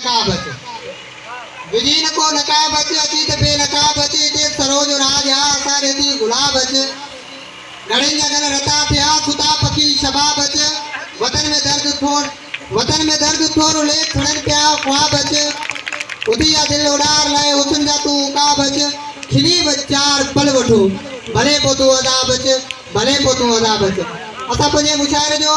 نقابت وجهي نه ڪو نقاب اچ اچي ته بي نقاب اچ اتي سرو جو راڄ آ اسان ڏي ٿي گلاب اچ گڙهين جا گل رتا پيا خدا بخشي شباب اچ وطن ۾ درد ٿور وطن ۾ درد ٿور اليڪ کڻن پيا خواب اچ اٿي آ دل اڏار لئي حسن جا تون عقاب اچ کلي به چار پل وٺو ڀلي پوء تون عذاب اچ ڀلي پوء تون عذاب اچ اسان پنهنجي مشاعري جو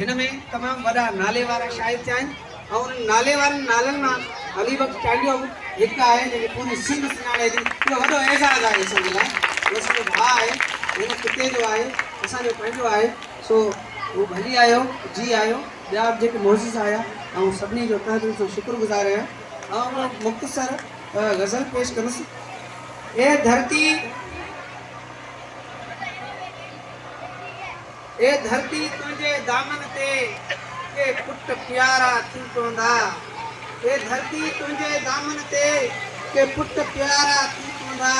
هن ۾ تمام وڏا نالي وارا شاعر ٿيا آهن ۽ انهن نالي وارن نالن مان علي بخش چانڊيو به هڪ آهي جنهن کي پوري سنڌ سڃاڻي ٿي اهو وڏو اعزاز آهي اسان جي لاء هو اسان جو ڀاء آهي هن خطي جو آهي اسان جو پنهنجو آهي سو هو ڀلي آيو جي آيو ٻيا به جيڪي معزز آيا آئون سڀني جو تهه دل سان شڪر گذار آهيان آئون هڪ مختصر غزل پيش ڪندس اي ڌرتي اي ڌرتي تنهنجي دامن تي ڪي پٽ پيارا ٿي پوندا اي ڌرتي تنهنجي دامن تي ڪي پٽ پيارا ٿي پوندا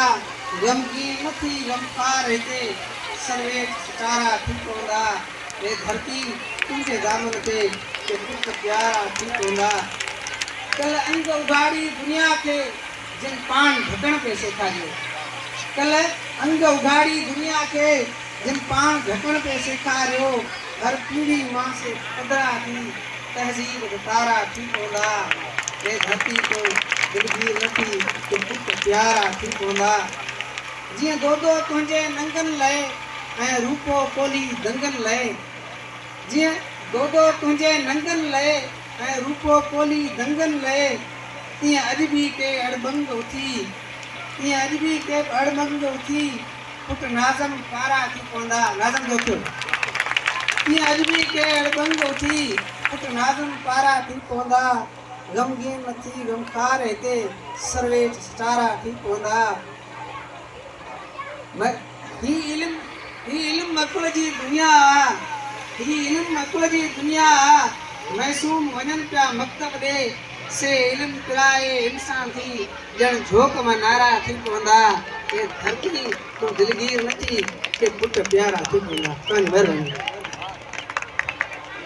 غمگين نه ٿي غمخوار هتي سرويچ سٽارا ٿي پوندا اي ڌرتي تنهنجي دامن تي ڪي پٽ پيارا ٿي پوندا کل انگ اگهاڙي دنيا کي جن پاڻ ڍڪڻ پئي سيکاريو کل انگ اگهاڙي دنيا کي جن پاڻ ڍڪڻ پئي سيکاريو، هر پيڙهي مان سي پڌرا ٿي تهذيب جو تارا ٿي پوندا، جي ڌرتي تون دلگير نه ٿي ته پٽ پيارا ٿي پوندا، جيئن دودو تنهنجي ننگن لئه ۽ روپو پولي دنگن لئه، جيئن دودو تنهنجي ننگن لئه ۽ روپو پولي دنگن لئه، تيئن اڄ به ڪي اڙٻنگ اٿي، تيئن اڄ به ڪي اڙٻنگ اٿي. پٽ ناظم ڪارا ٿي پوندا ناظم دوستو تيئن اڄ به ڪي اڙ ٻنگ اٿي پٽ ناظم ڪارا ٿي پوندا غمگين نه ٿي غمخار هتي سرويچ سٽارا ٿي پوندا هي علم هي علم عقل جي دنيا آ هي علم عقل جي دنيا آ معصوم وڃن پيا مڪتب ڏي سي علم پرائي انسان ٿي ڄڻ جھوڪ مان نعرا ٿي پوندا، اي ڌرتي تون دلگير نه ٿي، ڪي پٽ پيارا ٿي پوندا.